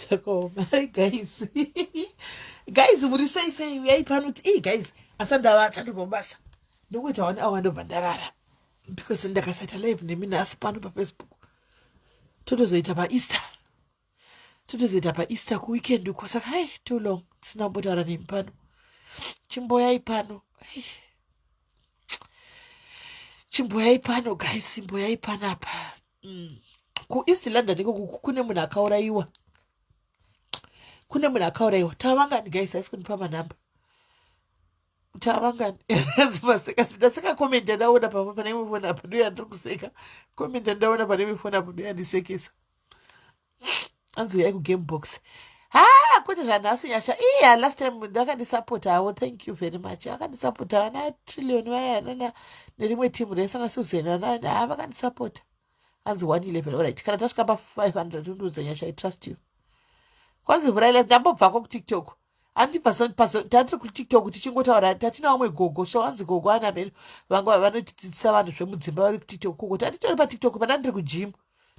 zvakaoma ri guys guys muri sei sei uyai pano kuti ii guys asandava asandobva mubasa ndokuita one awa ndobva ndarara because ndakasaita live nemi nhasi pano pafacebook totozoita paeaster totozoita paeaster kuweekend uko saka hai too long tisina kumbotaura nemi pano chimboyai pano chimboyai pano guys imboyai pano apa mm. kueast london ikoko kune munhu akaurayiwa kune munhu akaurayiwa tavangani guys aisi kundipa manhamba tavangani vaseka ndaseka comment yandaona papa pane imwe foni apa ndoya ndiri kuseka comment yandaona pane imwe foni apo ndoya ndisekesa anzi uyai kugame box ha kwete zvanhasi nyasha iya last time ndakandisapotavo thank you very much akandisapota vana trillion vaya anana nerimwe timu resana susan anani ha vakandisapota anzi one eleven orit kana tasvika pa five hundred undiudza nyasha i trust you kwanzi vhuraile ndambobvako kutiktok andi tati kutiktok tichingotaura tati naumwe gogo so anzi gogo ana mheno vanga vanotidzidzisa vanhu zvemudzimba vari kutiktok kuko tati tori patiktok pana ndiri kujimu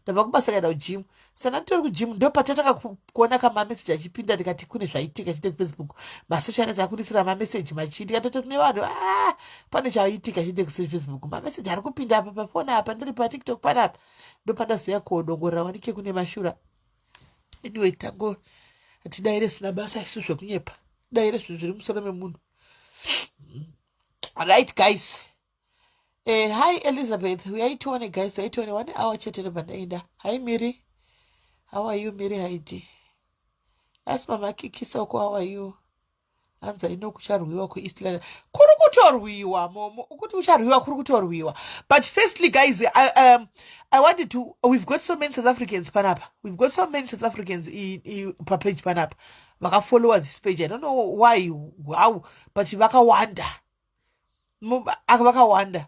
ndabva kubasa kaenda kujimu sana nditori kujimu ndo patatanga kuona kamameseji achipinda ndikati kune zvaitika chite kufacebook masocial net akunetsera mameseji machii ndikatoti kune vanhu a ah, pane chaitika chite kufacebook mameseji ari kupinda apa pafoni apa ndiri patiktok panapa ndo pandazoya kuodongorera wanike kune mashura anyway tango tidaire sina basa isu zvekunyepa daire zvinhu zviri musoro memunhu right guys eh, hi elizabeth uyai tione guys uyai tione one hour chete nobva ndaenda hi miri how are you miri haidi asi mama kikisa uko how are you hanzi i know kucharwiwa kueast london kuri kutorwiwa momo ukuti kucharwiwa kuri kutorwiwa but firstly guys I, um, i wanted to we've got so many south africans panapa we've got so many south africans i- i- papage panapa vakafollowa this page i don't know why how but vakawanda Mu- aka vakawanda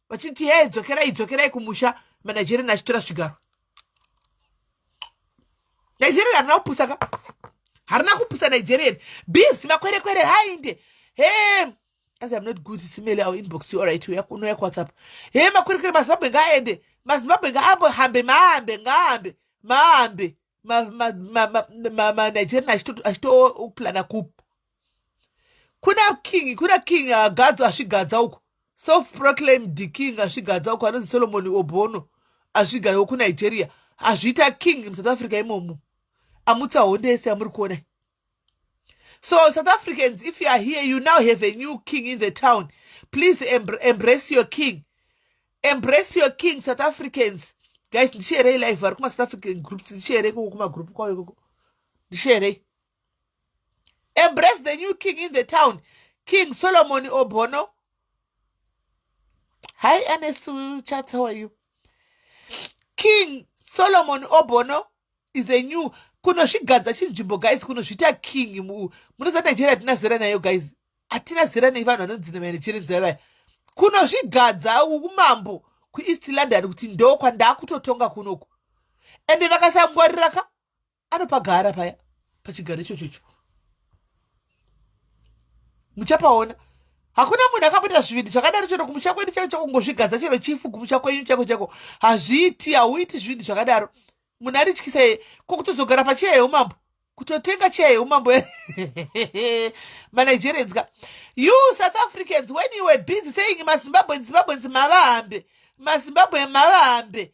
vachiti hee dzokerai dzokerai kumusha manigerian achitora zvigaro nigerian harina kupusa ka harina kupusa nigerian busy makwerekwere hainde hee as im not good simele our inbox you alright uya kuno yakuwhatsapp hee makwerekwere mazimbabwe ngaaende mazimbabwe ngaahambe mahambe ngaahambe mahambe manigerian achitoplana kup kuna king kuna king agadzo asvigadza uko self proclaimed king asvigadza uko anonzi solomoni obono asvigayo kunigeria azviita king musouth africa imomo amutsa honde yese yamuri kuona so south africans if you are here you now have a new king in the town please embr embrace your king embrace your king south africans guys ndisheerei live vari kumasouth african groups ndisheerei koko kumagroup kwavo ikoko ndisheerei embrace the new king in the town king solomon obono hi ernest chats how are you king solomon obono is a new kunozvigadza chinzvimbo guys kunozviita king munoziva nigeria hatina zera nayo guys hatina zera nei vanhu vanonzi nemanigeria vaya kunozvigadza umambo kueast london kuti ndo kwandakutotonga kunoku ende vakasangwarira ka anopagara paya pachigaro ichocho icho muchapaona hakuna munhu akamboita zvivinhu zvakadaro chero kumusha kwedu chako chako ngozvigadza chero chifu kumusha kwenyu chako chako hazviiti hauiti zvivinhu zvakadaro munhu arityisa ye ko kutozogara pacheya yeumambo kutotenga cheya yeumambo manigerians ka you south africans when you were busy saying mazimbabweans zimbabweans mavahambe mazimbabwe mavahambe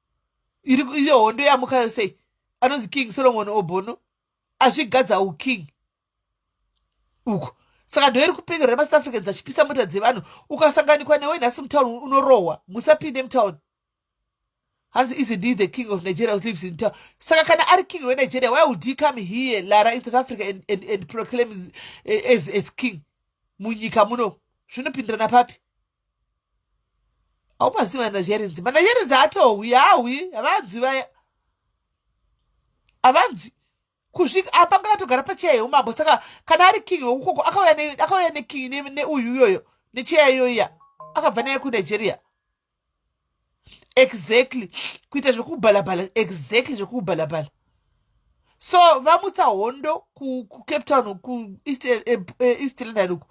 iyo hondo yamukayo sei anonzi king solomon obono azvigadza uking uko saka ndo iri kupinga remasouth africans achipisa mota dzevanhu ukasanganikwa newe nhasi mutown unorohwa musapinde mutown hanzi is indeed the king of nigeria lives in town saka kana ari king wenigeria why would he come here lara in south africa and, and, and proclaim as, as, as king munyika muno zvinopindirana papi aumazivi manazherenzi manazherenzi haatohwi haahwi havanzwi vaya havanzwi kusvika apa ah, ngakatogara pacheya yeumambo saka kana ari king wekukoko akauya neking neuyu iyoyo necheya iyoiya akabva naye kunigeria exactly kuita zvekubhalabhala exactly zvekubhalabhala so vamutsa hondo kucape town kueast eh, eh, eh, london uku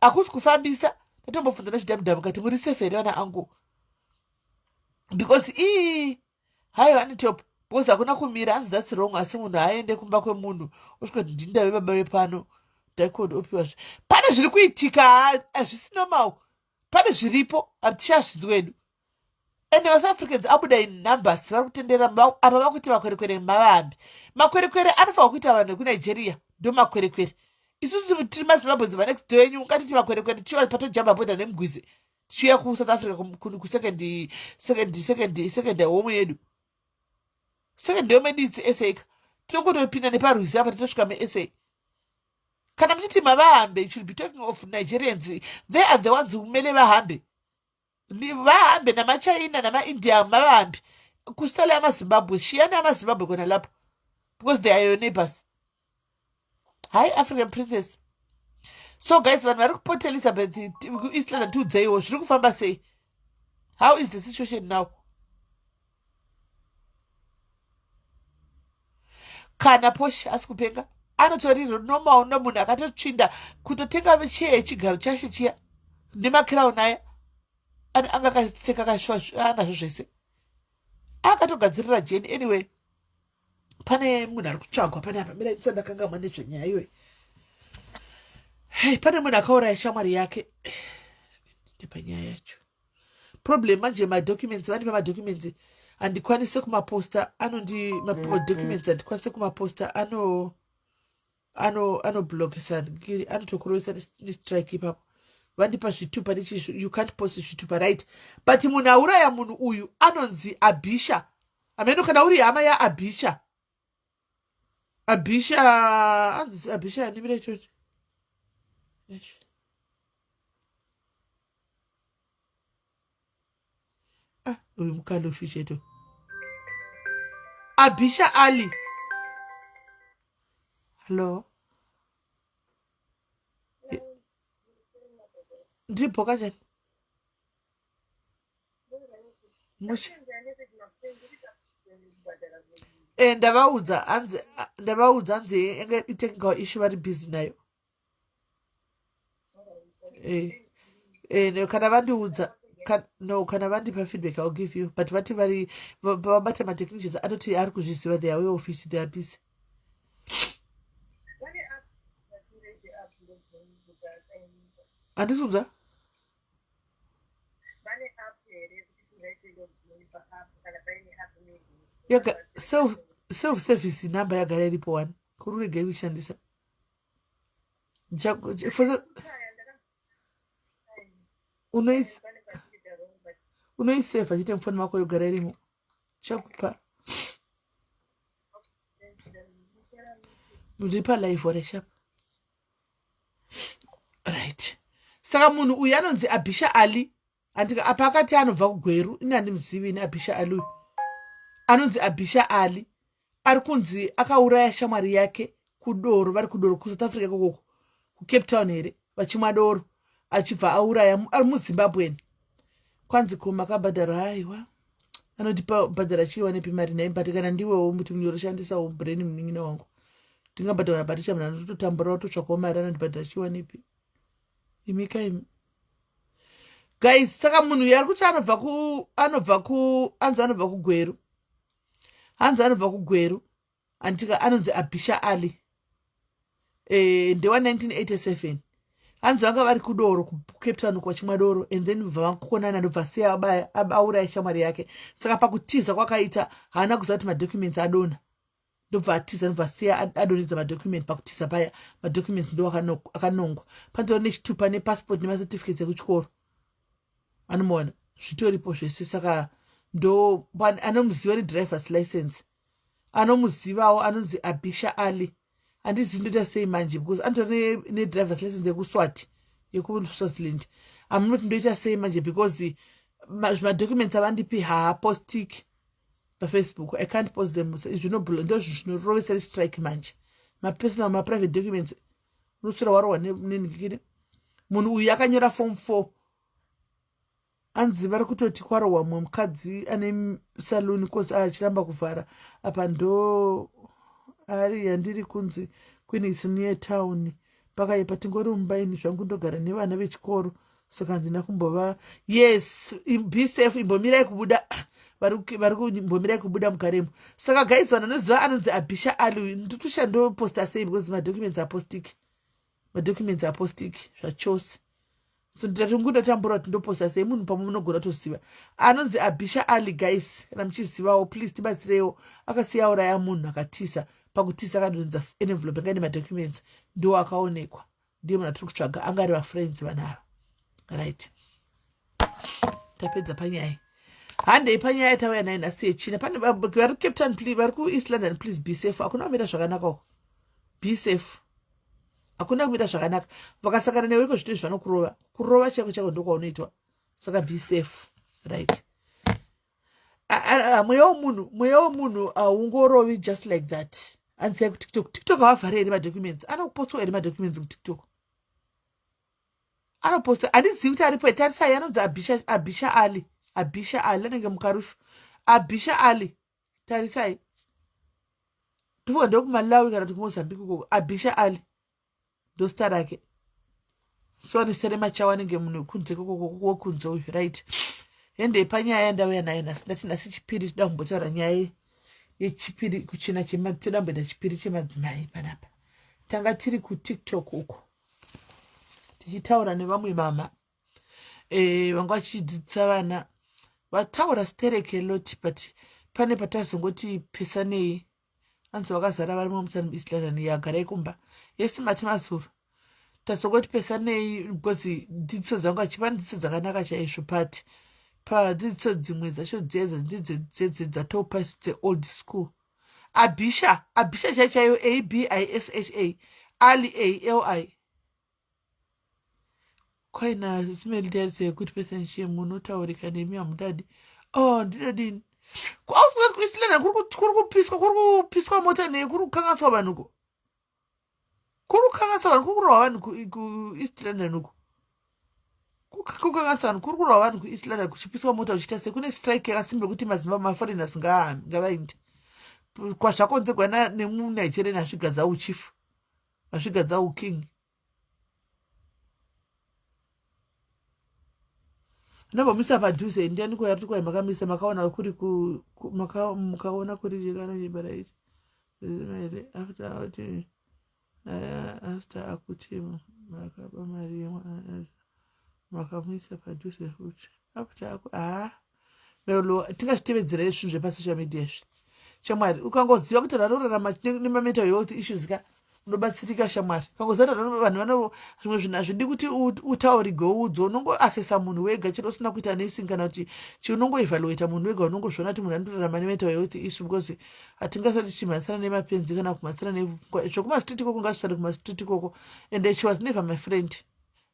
hakusi kufambisa ndatombobvunza nechidamudhamu kati muri safe here vana angu because ii hayo anitop because hakuna kumira anzi thats wrong asi munhu haaende kumba kwemunhu osvika kuti ndindave baba vepano daikod opiwa zve pane zviri kuitika hazvisi normal pane zviripo hatichazvinzi wedu and south africans abuda in numbers vari kutendera apa vakuti makwerekwere mavambi makwerekwere anofanira kuita vanhu vekunigeria ndo makwerekwere isusu tiri mazimbabwens manext do enyu ungatiti makwerekwere tichiva patojamba boda nemugwizi tichiuya kusouth africa kusecond second second second home yedu second home yedu itsi sa ka tinokutopinda neparwizi apa titosvika mesa kana muchiti mavahambe you should be talking of nigerians they are the ones kumele vahambe Ni- vahambe namachina namaindia mavahambe kusala yamazimbabwe shiyana yamazimbabwe kona lapo because they are your neighbors hi african princess so guys vanhu vari kuport elizabeth t- kueast london tiudzeiwo zviri kufamba sei how is the situation now kana poshi asi kupenga anotori normal no munhu akatotsvinda kutotenga cheye chigaro chashe chiya nemakirauni aya anga akapfeka kashuwa anazvo zvese akatogadzirira jeni anyway pane munhu ari kutsvagwa pane apa mira ndisa ndakangamwa nezvenyaya iyoyi hei pane munhu akauraya shamwari yake ndepanyaya yacho problem manje madocuments vandipa madocuments handikwanise kumaposta anondi madocuments handikwanise kumaposta ano ano anoblockisa ngiri anotokurovesa nestrike ipapo vandipa zvitupa nechisu you can't post zvitupa right but munhu auraya munhu uyu anonzi abhisha ameno kana uri hama yaabhisha abhisha anzi abhisha animira ichoti ah, uyu mukanda ushucheto abhisha ali hallo ndiri bhoka chani musha e ndavaudza hanzi ndavaudza hanzi enge itechnical issue vari busy nayo eh, eh, no, kana vandiudza ka- no kana vandipa feedback ill give you but vati vari va- vabata matechnicians anoti ari kuzviziva they are aware of it they are busy andisunza self service number yagara iripo wani kururegei kuishandisa unoiseva chete mufoni mako yogara irimo chakupa ndipa live wareshapa right saka munhu uyu anonzi abhisha ali andika apa akati anobva kugweru ini handimuzivi ini abhisha ali uyu anonzi abhisha ali ari kunzi akauraya shamwari yake kudoro vari kudoro kusouth africa ikokoko kucape town here vachimwa doro achibva auraya ari muzimbabwen kwanzi ko makabhadhara haiwa anoti pabhadhara chiiwa nepi mari nai but kana ndiwewo muti munyoro shandisawo brain munin'ina wangu ndingabhadhara bhatisha mnhu anototamburawo totsvakawo mari anondibhadhara chiiwa nepi imika imi guys saka munhu uyo ari kuti anobva ku anobva ku anzi anobva kugweru hanzi anobva kugweru antika anonzi abhisha ali e, ndewa 1987 hanzi vanga vari kudoro kucape town uko vachimwa doro and then bva vakukonana ndobva siya auraya shamwari yake saka pakutiza kwakaita haana kuziva kuti madocuments adona ndobva atiza ndobva siya adoridza madocument pakutiza paya madocuments ndo akanongwa panotora nechitupa nepassport nemacertificates ekuchikoro anomaona zvitoripo zvese saka ndo anomuziva nedrivers license anomuzivawo anonzi abisha ali handizivi ndoita sei manje because anotora nedrivers license yekuswati yekuswaziland amunoti ndoita sei manje because madocuments avandipi haapostiki pafacebook i can't post them zvinobhula ndo zvinhu zvinorovesa restrike manje mapersonal maprivate documents unosura warohwa nenhikiri munhu uyu akanyora form four anzi vari kutoti kwarohwa mumwe mukadzi ane saluni kosi achiramba kuvhara apa ndo ari yandiri kunzi queen is near town pakaipa tingori mumba ini zvangu ndogara nevana vechikoro saka handina kumbova yes be safe imbomirai kubuda vari kumbomirai kubuda mukaremo saka guys vanhu anoziva anonzi abhisha ali uyu nditosha ndoposta sei because madocuments apostiki madocuments apostiki zvachose so nditati nguti atambura kuti ndoposa sei munhu pamwe munogona toziva anonzi abhisha ali guys kana muchizivawo please tibatsireiwo akasiya uraya munhu akatisa pakutisa akadonza envelope anga ine madocuments ndiwo akaonekwa ndiye munhu atiri kutsvaga anga ari vafriends vanava right tapedza panyaya handei panyaya tauya nayo nhasi yechina pane vari cape town vari kueast london please be safe hakuna kumira zvakanaka uko be safe hakuna kuita zvakanaka vakasangana newe iko zvito izvi vanokurova kurova chako chako ndokwaunoitwa saka be safe right mweya wemunhu mweya wemunhu haungorovi just like that andisai kutiktok tiktok havavhare here madocuments anokupostwa here madocuments kutiktok anopostwa handizivi kuti aripo etarisai anonzi abisha ali abisha ali anenge mukarushu abisha ali tarisai tifunga ndokumalawi kana tikumozambique ukoko abisha ali ndosita rake so anosiyana machawa anenge munhu wekunze kokokokunze uyu right hende panyaya yandauya nayo nhasi ndati nhasi chipiri toda kumbotaura nyaya yechipiri kuchina toda kumboita chipiri chemadzimai panapa tanga tiri kutiktok uko tichitaura nevamwe mama e, vanga vachidzidzisa vana vataura stereke loti but pane patazongoti pesanei anzi vakazara varimo mutani east london yagara ikumba yesi mati mazuru tazongoti pesanei because dzidziso dzangu achipa dzidziso dzakanaka chaizvo but padzidziso dzimwe dzacho dzedze ndidzo dzedze dzatopa dzeold school abisha abisha chaichaiyo a b i s h a ali a l i kwaina zimendiaritso yekuti pese nshie munotaurika nemi hamudadi o oh, ndinodini kwaufunga kuti kuisilana kuri kupiswa kuri kupiswa mota nei kuri kukanganiswa vanhu ko kuri kukanganiswa vanhu kuri kurohwa vanhu kueast london uko kukanganiswa vanhu kuri kurohwa vanhu kueast london kuchipiswa mota kuchiita se kune strike yakasimba yekuti mazimbabwe maforeigners ngavainde kwazvakonzegwa nemunigerian asvigadza uchifu Vazvigadza hu king. Nambomisa padhuze ndiani ko yari kwaye makamisa makaona kuri ku makaona kuri jekana nyebara iri. Zimere after out eh, after akuti makaba mari yemwana makamisa padhuze futi. After aku ah tingazvitevedzera izvi zvinhu zvepasocial media izvi shamwari ukangoziva kuti vanhu vanorarama nemamental health issues ka unobatsirika shamwari ukangoziva kuti vanhu vanovo zvimwe zvinhu hazvidi kuti utaurigwe uudzo unongoasesa munhu wega chero usina kuita nesing kana kuti chi unongoevaluata munhu wega unongozviona kuti munhu anorarama nemental health issue because hatingasati tichimhanyisana nemapenzi kana kumhanyisana zvekumasitritiko kungasvisari kumasitritiko ko and she was never my friend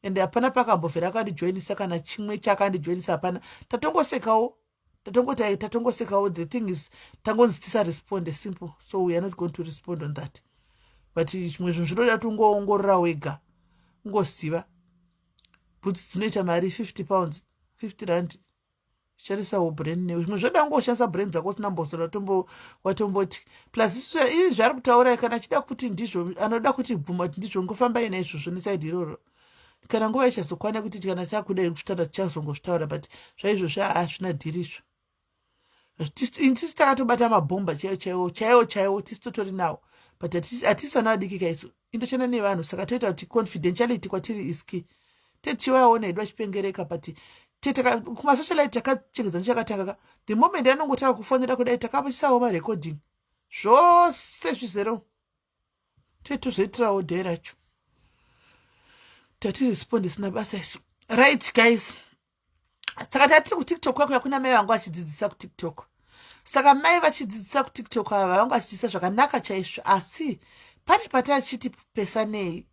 and hapana pakambovhera akandijoinisa kana chimwe chakandijoinisa hapana tatongosekawo tatongoti ai tatongosekawo the thing is tangonzi tisaresponde simple so weare not going to respond on that but chimwe zvinhu zvinoda kuti ungoongorora wega ungoziva bhutsi dzinoita mari 50 pounds 50 rand sharisawo brain newe zvimwe zvoda kungoshandisa brain dzako usina mbosora watomboti plus ii zvaari kutaura kana achida kuti ndizvo anoda kuti bvuma kuti ndizvo ngofamba ina izvozvo nesaidi iroro kana nguva ichazokwana kuti kana chakudai kuzvitaura tichazongozvitaura but zvaizvozvo haazvina dhiri izvo tisu takatobata mabhomba chaiwo chaiwo chaiwo chaiwo tisu totori nawo but hatisi vana vadikika isu indoshanda nevanhu saka toita kuti confidentiality kwatiri is key tete chiwa yaona hedu achipengereka but tete kumasocialite takachengedza ndichakatanga ka the moment anongotanga kufonera kudai takapisawo marecording zvose zvizero tete tozoitirawo day racho tatiresponde sina basa isu right guys saka tatiri kutiktok kwakuya kuna mai vangu vachidzidzisa kutiktok saka mai vachidzidzisa kutiktok ava vavanga vachidzidzisa zvakanaka chaizvo asi pane patachiti pesanei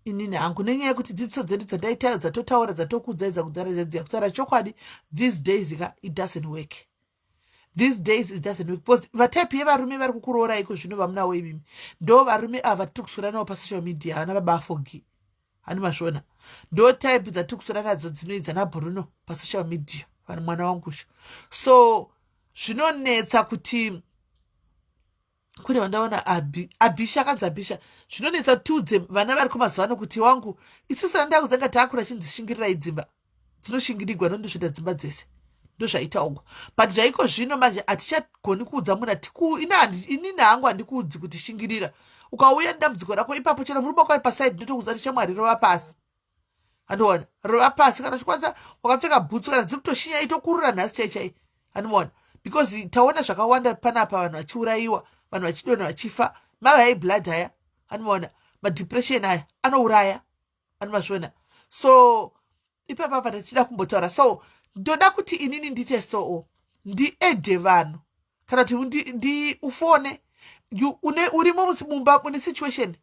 inini hangu nenyaya yekuti dzidziso dzedu dzandaitayo dzatotaura dzatokuudzaidza kudaradza dziya kutaura chokwadi these days ka it doesn't work these days it doesn't work because vatype yevarume vari kukuroorai iko zvino vamunawo imimi ndo varume ava tiri kusoranawo pasocial media havana baba afogi hani masvona ndo type dzatiri kusora nadzo dzinoidza nabruno pasocial media vanhu mwana wangu usho so zvinonetsa kuti kune vandaona abi abisha akanzi abisha zvinonetsa tiudze vana variko mazuva ano kuti wangu isusu ana ndako dzanga taakura chindzishingirirai dzimba dzinoshingirirwa nondosvita dzimba dzese ndozvaitaugwa but zvaiko zvino manje hatichagoni kuudza munhu atiinini hangu handikuudzi kuti shingirira ukauya nedambudziko rako ipapo chero murume kwari pasaidi ndotokuudza tichamwari rova pasi andiona rova pasi kana uchikwanisa wakapfeka bhutsu kana dziri kutoshinya itokurura nhasi chai chai andiona because taona zvakawanda panapa vanhu vachiurayiwa vanhu vachidona vachifa mava yai blood haya andiona madepression aya anouraya andimazviona so ipapa apa tichida kumbotaura so ndoda kuti inini ndite soo ndiedhe vanhu kana kuti ndiufone une urimo mumba mune situation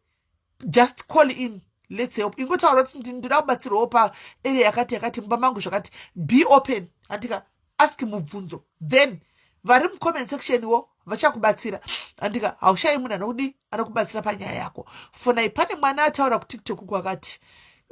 just call in lets help ingotaura kuti ndinoda kubatsirwawo paarea yakati yakati mumba mangu zvakati be open andika ask mubvunzo then vari mucomment section wo vachakubatsira andika haushayi munhu anokudi anokubatsira panyaya yako fonai pane mwana ataura kutiktok uku akati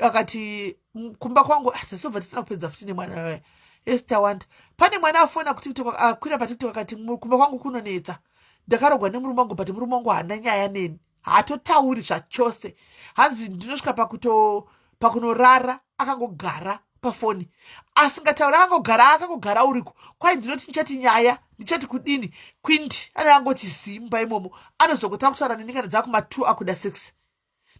akati kumba kwangu ah, tasobva tisina kupedza futi nemwana waya yes tawanda pane mwana afona kutiktok akwira patiktok akati kumba kwangu kunonetsa ndakarogwa nemurume wangu but murume wangu haana nyaya neni haatotauri zvachose hanzi ndinosvika pakuto pakunorara akangogara pafoni asingatauri akangogara akangogara uriko kwai ndinoti ndichati nyaya ndichati kudini quinti ane angoti zimba imomo anozongotanga kutaura neni kana dzava kumatwo akuda sex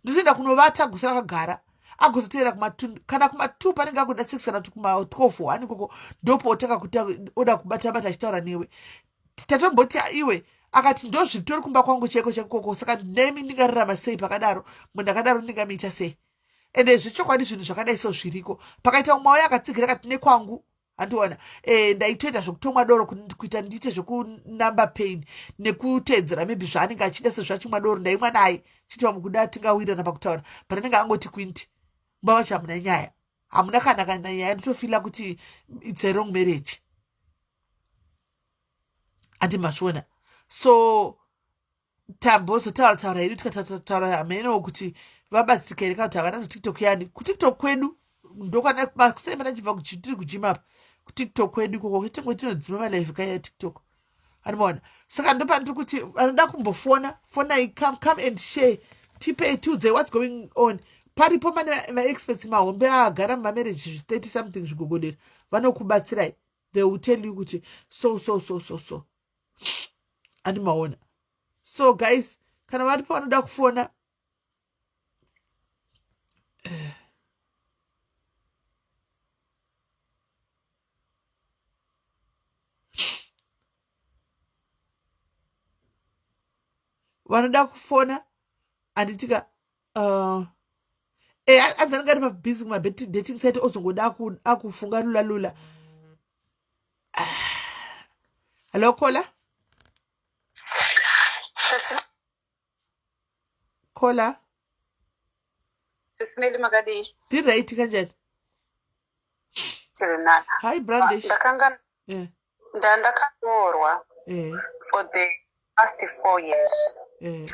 ndizoenda kunovata gusa rakagara agozoteera kumatun kana kumatwo panenge akuda sex kana kuti kumatwofo ani koko ndopootanga kuda kubatabata achitaura newe Tatomboti iwe akati ndozvitori kumba kwangu chaiko chakukoko saka nemi ndingararama sei pakadaro munhu akadaro ndingamiita sei ende zvechokwadi zvinhu zvakadai so zviriko pakaita umwe wauye akatsigira kati nekwangu handiona e, eh, ndaitoita zvekutomwa doro kuita ndiite zvekunumber pain nekuteedzera maybe zvaanenge achida sezvachimwa doro ndaimwa naye chiti pamukuda tingawirana pakutaura but anenge angoti kwinti mbava chamuna nyaya hamuna kana kana nyaya ndotofila kuti its a wrong marriage ati mazviona so tambozotaura taura hedu tikataura hamenowo kuti vabatsirika here kana kuti havana zotiktok yani kutiktok kwedu ndokwana makusei mana chibva tiri kujima apa kutiktok kwedu ikoko tingo tinodzima malive kaya tiktok animoona saka ndopandiri kuti anoda kumbofona fonai come come and share tipei tiudzei whats going on paripo mane maexperts mahombe aagara mumamarriage 30 something zvigogodera vanokubatsirai they will tell you kuti so so so so so andi maona so guys kana vari pavanoda kufona eh. vanoda kufona handitika uh, e adzanenge ari mabhizi kumabedating site ozongoda akufunga lula lula hallo kola kola sisimeli makadii ndiright kanjani tirinana hi brandish ndakanga eh. ndandakaroorwa eh. for the past four years eh.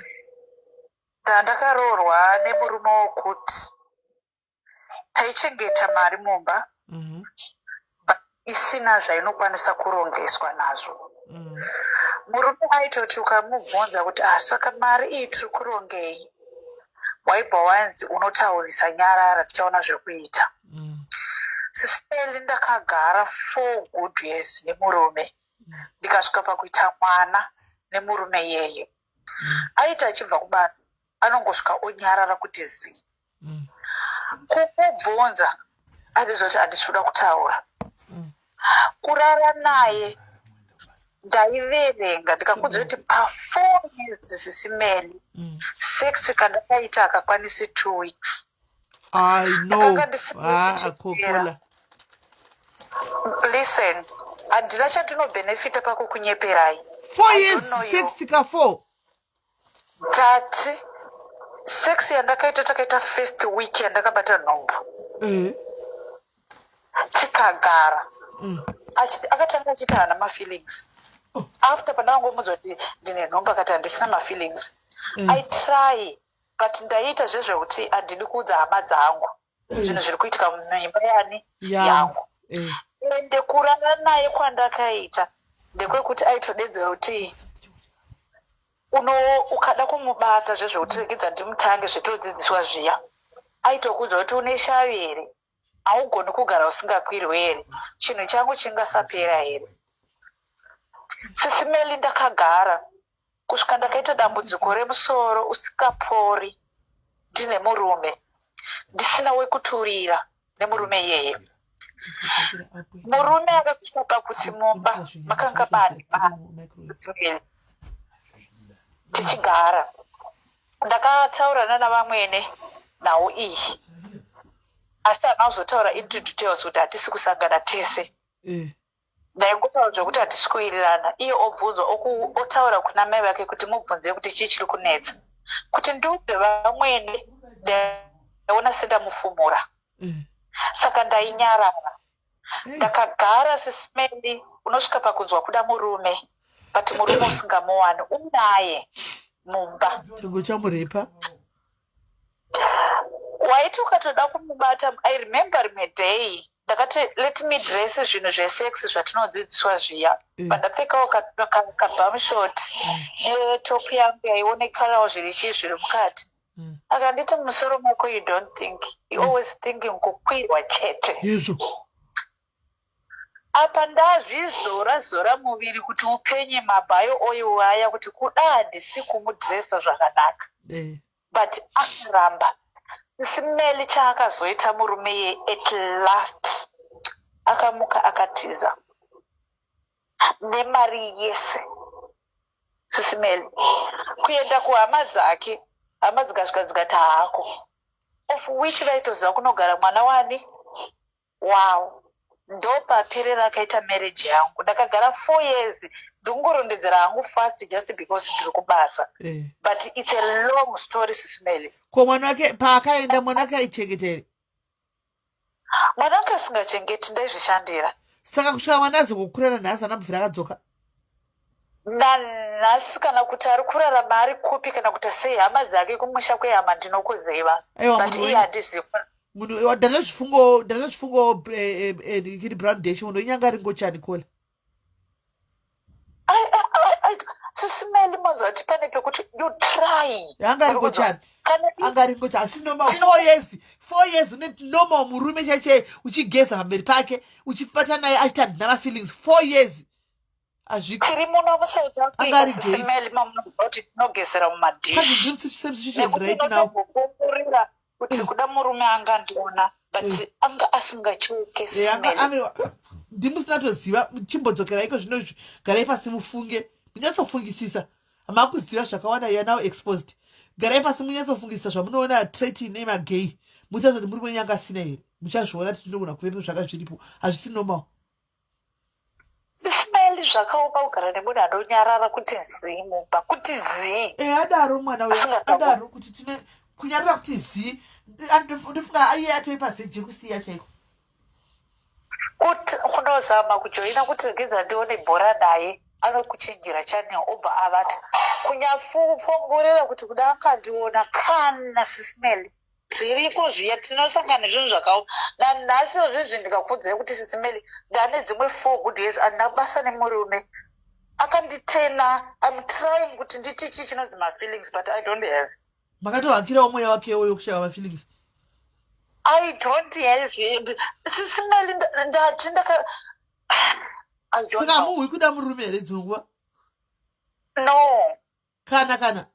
Ndandakaroorwa nemurume wokuti taichengeta mari mumba mhm. isina zvainokwanisa kurongeswa nazvo mhm. murume aitoti ukamubvunza kuti ah saka mari iyi tiri kurongei waibva wanzi unotaurisa nyarara tichaona zvekuita mhm. siseli ndakagara four good years nemurume ndikasvika pakuita mwana nemurume yeye aiti achibva kubasa anongosvika onyarara kuti zii mm. kukubvunza andiziva kuti handisi kuda kutaura mm. kurara naye ndaiverenga ndikakudzira kuti pafour years zisimene mm. sex kandakaita akakwanisi two weeks I know. Ah, Coca-Cola. Listen, handina chandinobenefita pakukunyeperai. Four years sex tika four. Tati, sex yandakaita takaita first week yandakabata nhombo. Eh. Tikagara. Mm. Akatanga achita hana mafeelings. Oh. After pandakangomudza kuti ndine nhombo akati handisina mafeelings. Mm. I try but ndaiita zvezvekuti handidi kuudza hama dzangu mm. zvinhu zviri kuitika muimba yani yangu eh. ende kurara naye kwandakaita ndekwekuti aitodedzera kuti uno ukada kumubata zvezvekuti regedza ndimutange zvetodzidziswa zviya aitokuudza kuti une shavi here haugoni kugara usingakwirwe here chinhu changu chingasapera here sisimeli ndakagara kusvika ndakaita dambudziko remusoro usingapori ndine murume ndisina wekuturira nemurume iyeye murume akasvika pakuti mumba makanga mane tichigara ndakataura nana vamwene nhau iyi asi hana kuzotaura into details kuti hatisi kusangana tese eh. Ndaingotaura zvekuti hatisi kuwirirana iye obvunzwa oku otaura kuna mai vake kuti mubvunzei kuti chii chiri kunetsa. Kuti ndiudze vamwene ndaiona sendamufumura. Mm. Saka ndainyarara. Mm. Ndakagara sismeli unosvika pakunzwa kuda murume but murume usingamuwani unaye mumba. Chirungu chamuripa. waiti ukatoda kumubata i remember rimwe day ndakati let me dress zvinhu zvesex zvatinodzidziswa zviya mm. pandapfekawo kabamshot mm. netop yangu yaionekarawo zviri chii zviri mukati mm. akanditi musoro mako you don't think you always thinking kukwirwa chete izvo Apa ndazvizora zora muviri kuti upenye mabio oil aya kuti kuda handisi kumudresser zvakanaka Eh. but akaramba smell chaakazoita murume iye at last akamuka akatiza nemari yese sisimel kuenda kuhama dzake hama dzikasvika dzikati haako of which vaitoziva kunogara mwana wani Wow ndopaperera akaita marriage yangu ndakagara four years ndikungorondedzera hangu fast just because ndiri kubasa eh. but it's a long story sismele ko mwana wake paakaenda mwana wake aichengeteri mwana wake asingachengeti ndaizvishandira saka kusvika mwana azongokurana nhasi anabvira akadzoka nanhasi kana kuti ari kurarama ari kupi kana kuti sei hama dzake kumusha kwehama ndinokuziva Aiwa, but munhu iye wenyu. handizivi munhu iwa- ndanezvifungo ndanezvifungo eh, eh, eh, kiri brown dash munhu wenyanga ringochani kola I- I- I- I- sisi meli mazoti pane pekuti you try Yanga ari kuchani. kana i- anga ringocha asi normal Tino- four years four years une normal murume chaichei uchigeza pamberi pake uchipata naye achita ndina mafeelings four years hazviko tiri muno musouth Anga ari africa gay. sisimeli mamunoti tinogezera Can't you mumadish dream such same situation nekuti right now? unotombokurira kuti Eh. kuda murume anga andiona but Eh. anga asingachoke Eh, anga sisimeli ave ndimusina toziva chimbodzokera iko zvino izvi garai pasi mufunge munyatsofungisisa makuziva zvakawanda you are now exposed garai pasi munyatsofungisisa zvamunoona trait ine magay muchazoti muri wenyu anga asina here muchazviona kuti tinogona kuvepo zvaka zviripo hazvisi normal Ismail zvakaoma kugara nemunhu anonyarara kuti zii mumba kuti zii e adaro mwana uya adaro kuti tine kunyarara kuti zii ndofunga aiye atoipa vheji yekusiya chaiko kuti kunozama kujoina kuti regedza ndione bhora naye anokuchinjira channel obva avati kunyafongorera kuti kuda akandiona kana sismel zviriko zviya tinosangana nezvinhu zvakaoma nanhasi zvezvi ndikakuudzai kuti sisi meli ndane dzimwe four good years andina kubasa nemurume akanditena im trying kuti nditi chii chinonzi mafeelings but i don't have makatohakirawo mweya wakewo yokushava mafeelings i don't have sisi meli ndati ndaka saka amuhwi kuda murume here dzimwe nguva no kana kana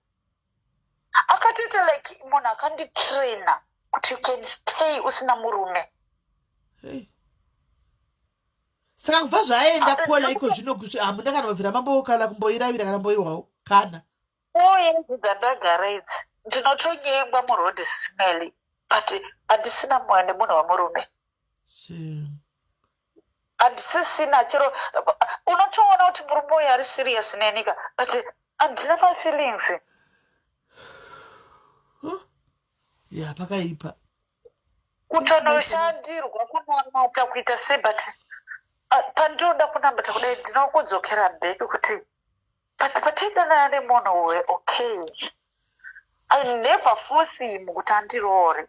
akatoita like munhu akanditraina kuti you can stay usina murume saka kubva zvaaenda kuona iko zvino kuti hamuna kana mabvira mambo kana kumboiravira kana mboiwawo kana oye dzandagara idzi ndinotonyengwa muroad smely but handisina mwana nemunhu wemurume handisisina chero unotoona kuti murume uyu ari serious nenika but handina mafeelings ya pakaipa kutonoshandirwa kunamata kuita sei but ah, pandinoda kunamata kudai ndinokudzokera bheki kuti but patidanana nemunhu uwe okay i never force him kuti andiroore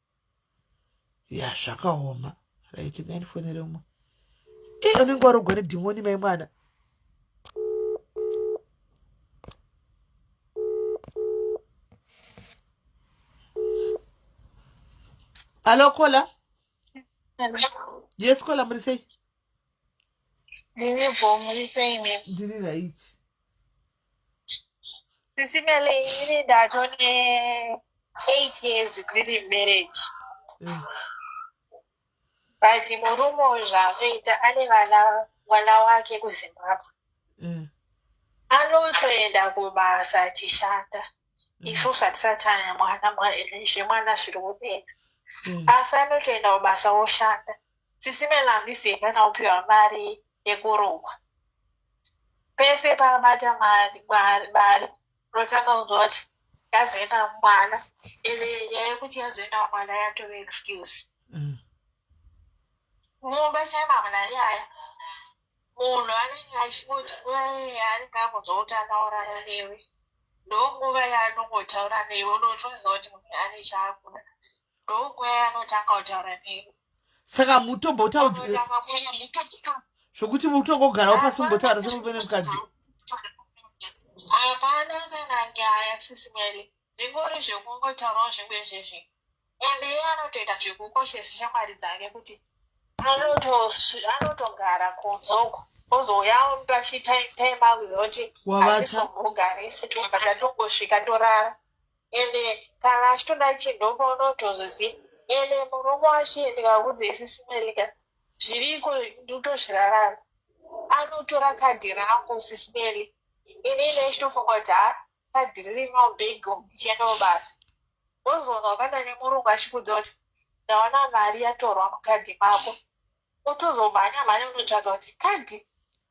ya zvakaoma right ngainifonere umwe e unenge warogwa nedhimoni mai mwana alo kola yes kola muri sei ndiri bho muri sei ndiri raiti Sisi Mele, ini ndatone eight years kuti marriage. But murume uyu zvaanoita ane vana mwana wake kuZimbabwe. Mm. Anotoenda kubasa achishanda. Mm. Isusu hatisati tane mwana mwa- zvemwana zviri kudenga. Mm. Asi anotoenda kubasa woshanda. Sisi Melanie Seka taupiwa mari yekurohwa pese pabata mari mari mari unotanga kunzwa kuti yazoenda mwana ende nyaya yekuti yazoenda mwana yatove excuse mm. mumba chaimamana nyaya munhu anenge achingoti nguva yeye anenge akunzwa kuti anaurara newe ndonguva yaanongotaura newe unotoziva kuti munhu ane chaakuda saka mutombotauzvokuti mutongogarawo pasi mumbotaura semumene mukadzi hapana kana nyaya sisimeri zvingori zvekungotaurawo zvingu izvezvi ende iye anotoita zvekukoshesa shamwari dzake kuti anotogara kudzoko ozouya pachitaimakuti asisomugarisi tobva tatongosvika torara ende kana achitoda chidhoma unotozoziva ende murume wacho ndikaudze isisi melika zviriko ndotozvirarana anotora kadhi rangu sisi meli ini ine chitofunga kuti ha kadhi ririmo bhego ndichiendawo basa wozoona wakaenda nemurungu achikudza kuti ndaona mari yatorwa mukadhi mako otozomhanya mhanya unotsvaga kuti kadhi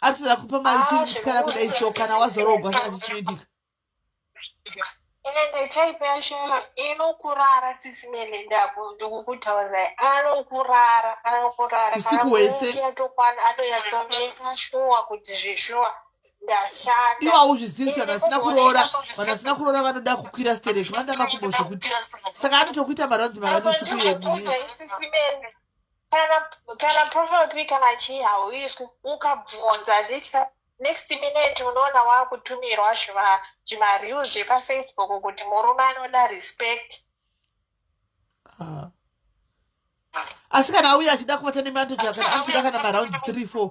atidza kupa mari chii musikana kudai so kana wazorogwa saka chichiitika ende chaipeya shema inokurara sisi mene ndikukutaurirai anokurara anokurara usiku hwese atokwana atonyatsomeeka shuwa kuti zveshuwa ndashanda iwo hauzvizivi kuti vanhu vasina kuroora vanhu vasina kuroora vanoda kukwira stereki vanoda makumbo zvekuti saka anotokuita maraundi marani usiku yemune kana profile pic kana chii hauiswi ukabvunza handitya next minute unoona waakutumirwa zvimareels zvepafacebook kuti murume anoda respect ah. asi kana auya achida kuvata nemanto japan anzida kana maround three four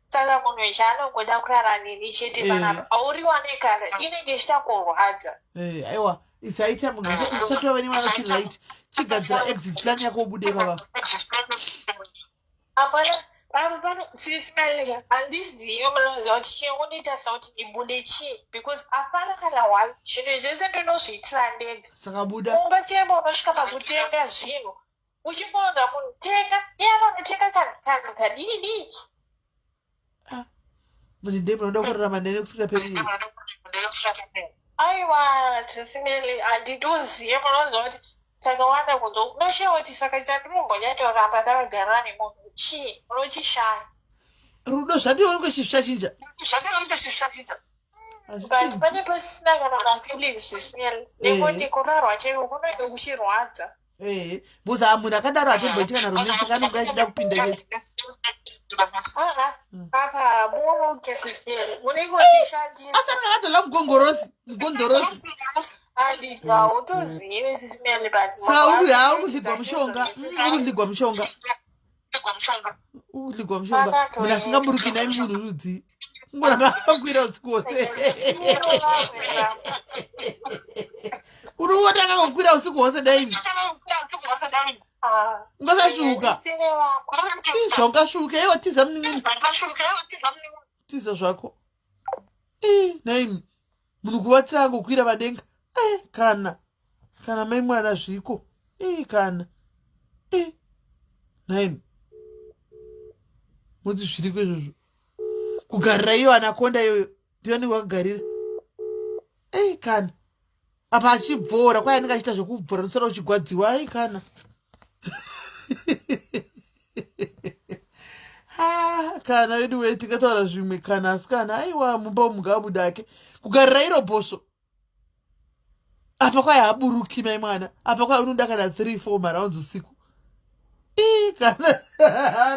saka munhu ichi anongoda kurara neni chete eh. panapa auriwane kare inenge ichita kurwadza eh, aiwa isaita munhu isatova vene mwana chiright chigadzira exit plan yako ubude baba apana pamupano sisimalega handizive munoziva kuti chinongoita sauti ibude chii because apana kana one zvinhu zvese ndinozviitira ndega saka buda kumba chemba unosvika pakutenga zvinhu uchingoudza munhu tenga iye anonotenga kanhu kadii dii ah, muzvide munoda kurarama nene kusingaperi aiwa tisimeli handitoziye munoziva kuti takawanda kuzo unoshewa kuti saka chandimumbojatoramba ndakagara nemunhu chii unochishaya rudo zvationike chizvishachinja zvationike chizvishachinja but pane pasina kana mafeelings smell nekuti kurarwa chaiwo kunenge kuchirwadza eh because amu ndakadaro atomboitika na romance kana unga achida kupinda chete asati akatola mugongorosi mugondorosi saka ukundigwa mushonga ukundigwa mushonga uligwa mushonga munhu asingaburuki nai munhu rudzi ngoramba akwira usiku wose unoona akangokwira usiku hwose daini ungasasvuka zvaungasvuka iwo tiza munin'ina tiza zvako naimi munhu kuvatira angokwira vadenga e eh, kana kana mai mwana zviko e kana e eh, nhaimi moti zviriko izvozvo kugarira iyo anakonda iyoyo ndiyonenge wakagarira ei kana apa achibvora kwai anenge achiita zvekubvora ndosara uchigwadziwa ai kana kana vedu wee tingataura zvimwe kana asi kana aiwa mumba mugabuda ake kugarira iro bhosvo apa kwaye haburuki mai mwana apa kwaye unoda kana three four marounds usiku ii kana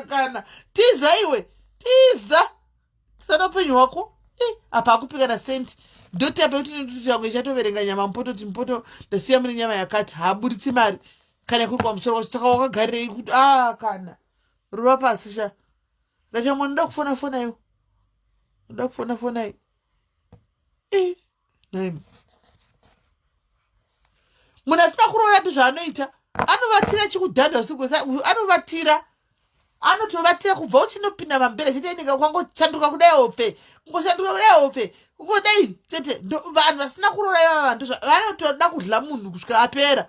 kana tiza iwe tiza tsana upenyu hwako eh, apa akupikana senti ndotapa kuti nituti yangu ichatoverenga nyama mupoto ti mupoto ndasiya mune nyama yakati haaburitsi mari kana kuri kwamusoro kwacho saka wakagarirei kuti a ah, kana ruva pasi sha ndachamwa ndoda kufona fonaiwo ndoda kufona fonai eh. munhu asina kuroorapi zvaanoita anovatira chikudhadha usiku anovatira anotovatira kubva uchinopinda mambere chete inenge kwangochanduka kudai ofe kungoshanduka kudai ofe kungodai chete vanhu vasina kuroora ivava ndizvo vanotoda kudla munhu kusvika apera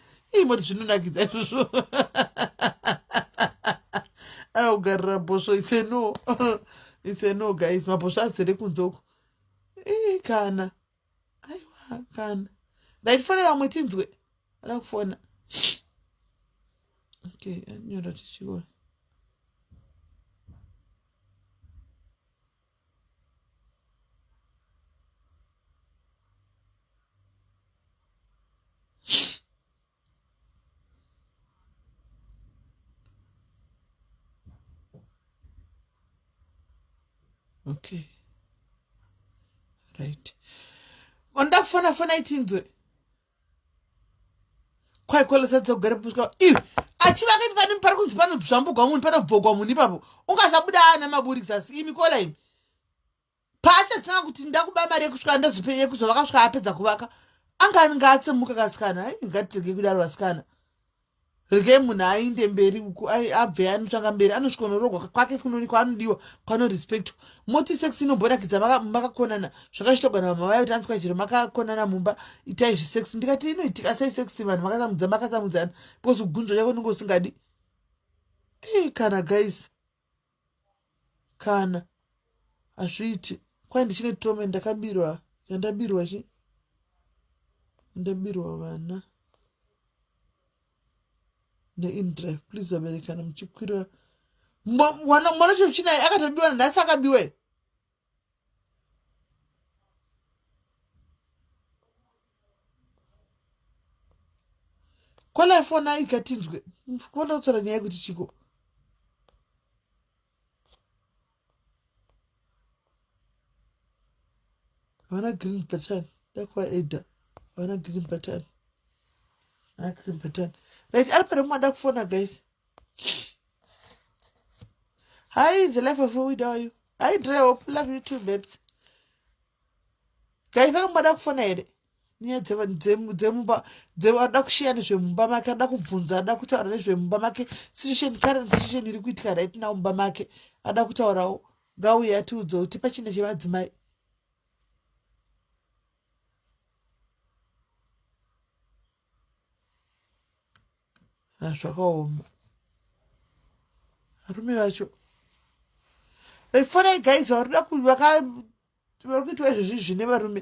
ii moti zvinonakidza izvozvo augarira bhosvo iseno iseno guys mabhosvo azere kunzoko ii kana aiwa kana ndaitifona vamwe tinzwe ada kufona okay anyora tichiona okay right wandakufona fona itinzwe kwaikwalasatsa kugara puswa iwe achivaka ipi pane pari kunzi panozvambugwa munhu panobvogwa munhu ipapo ungasabuda ana maburi kuzasi imi kola imi paachasanga kuti ndakuba mari yekusvika ndazope yekuzovaka svika apedza kuvaka anga ngaatsemuka kasikana ai ngatitenge kudaro vasikana Regai munhu ainde mberi uku abve anotsvanga mberi anosvika unoroorwa kwake kunoni kwaanodiwa kwanorespectwa moti sex inomborakidza makakonana zvakachitogona vamwe vaya kuti anzwa chero makakonana mumba itai zvesex ndikati inoitika sei sex vanhu makasamudza makasamudzana because ugunzwa chako unenge usingadi eh, kana guys kana hazviiti kwai ndichine tome ndakabirwa yandabirwa chi ndabirwa vana neindrive please vaberekana muchikwira mwana chochinaye akatobiwa nhasi akabiwa kwala fona ikatinzwe kuona kutsvara nyaya yekuti chiko havana green button dakuva eda havana green button na green button right ari pane mumada kufona guys Hi, the life of who are you? Hi, Dre, hope love you too, babes. Guys, vanoba da kufona here? Nyaya dzemumba, dzevada kushiya nezvemumba make, ada kubvunza, ada kutaura nezvemumba make, situation, current situation iri kuitika right now mumba make, ada kutaurawo, ngauye atiudza kuti pachine chemadzimai. Ah, zvakaoma varume vacho refonai guys varikuda vari kuitwa izvezvi zvine varume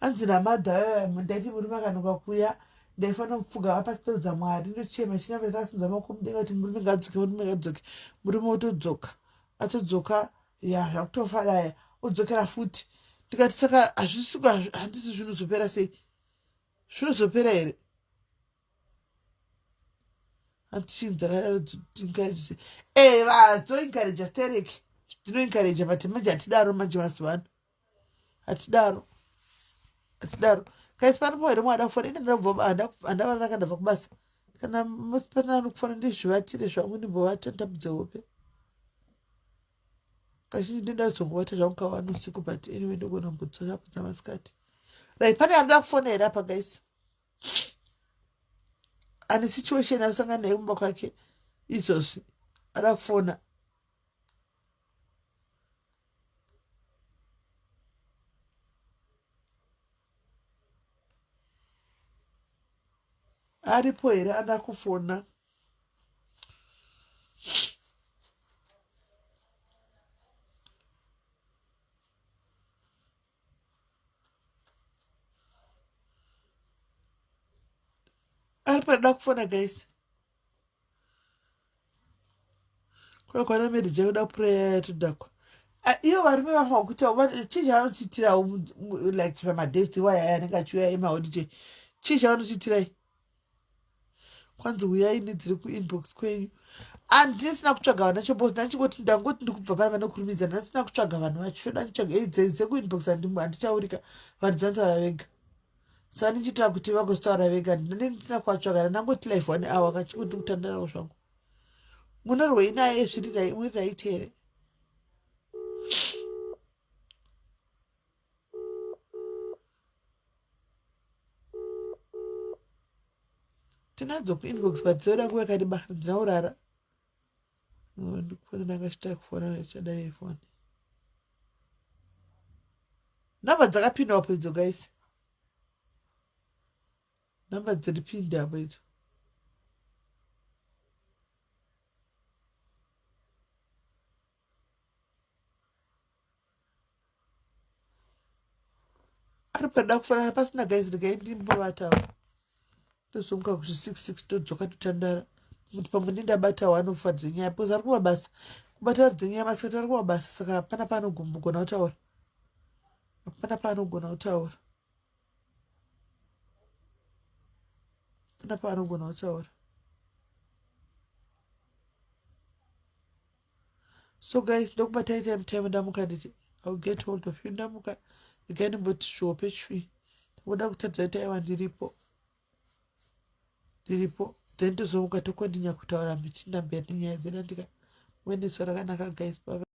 hanzi namadha eh, ndaiti murume akanoka kuya ndaifanira kupfuga vapasitodza mwari ndochema chinamazakasimudza maoko mudenga kuti murume ngadzoke murume ngadzoke murume otodzoka atodzoka ya zvakutofa daya odzokera futi ndikati saka hazvisiko handisi zvinozopera sei zvinozopera here antichin dzakaatinkareje e eh, vazoinkareja sterek tinoinkareja but manje hatidaro manje mazuva ano hatidaro hatidaro kaisi panopo here mwada kufona ine ndandava ndaka ndabva kubasa kana pasina anokufona ndizvivatire zvangu ndimbovata nditambudze hope kazhinji ndindazongovata zvangu kavana usiku but anyway ndogona mbudzo zvapo dzamasikati like pane anoda kufona here apa gaisi ane situation asangana nayo kumba kwake izvozvi ada kufona aripo here ada kufona ari paida kufona guys Kwa kwana medi je kuda prayer ya tudakwa. Ah, iyo varume vafa kuita chii chavanotiitirawo like pamadesti waya aya anenge achiuya emaodite chii chavanotiitirai kwanzi uyai nedziri kuinbox kwenyu andisina kutsvaga vana chobos ndachingoti ndangoti ndikubva pana vanokurumidza ndandisina kutsvaga vanhu vacho choda nditsvaga dzekuinbox handichaurika vanhu dzinotaura vega sandichita kuti vagostaura vega ndinendina kwatsvaka ndangoti life one hour kachiko ndi kutandarawo zvangu munorwei naye zvirirai muriraiti here tinadzo kuinbox but dzinoda nguva yakareba dzinaurara ndikufona ndakachita kufona chadai ifoni namba dzakapinda apo idzo guys namba dziri pindi apo idzo ari pada kufanana pasina guys regai ndimbovatavo tozonga kuzvi six six todzoka totandara kuti pamwe ndindabata wanofa dzenyaya because ari kuva basa kubata vari dzenyaya basa kuti ari kuva basa saka hapana paanogona kutaura hapana paanogona kutaura hapana paanogona kutaura so guys ndokubatai time time ndamuka nditi iwill get hold of you ndamuka igai ndimboti svope chwi ndingoda kutadza kuti aiwa ndiripo ndiripo then tozomuka tokondinya kutaura michinda mberi nenyaya dzenandika mueneso rakanaka guys baba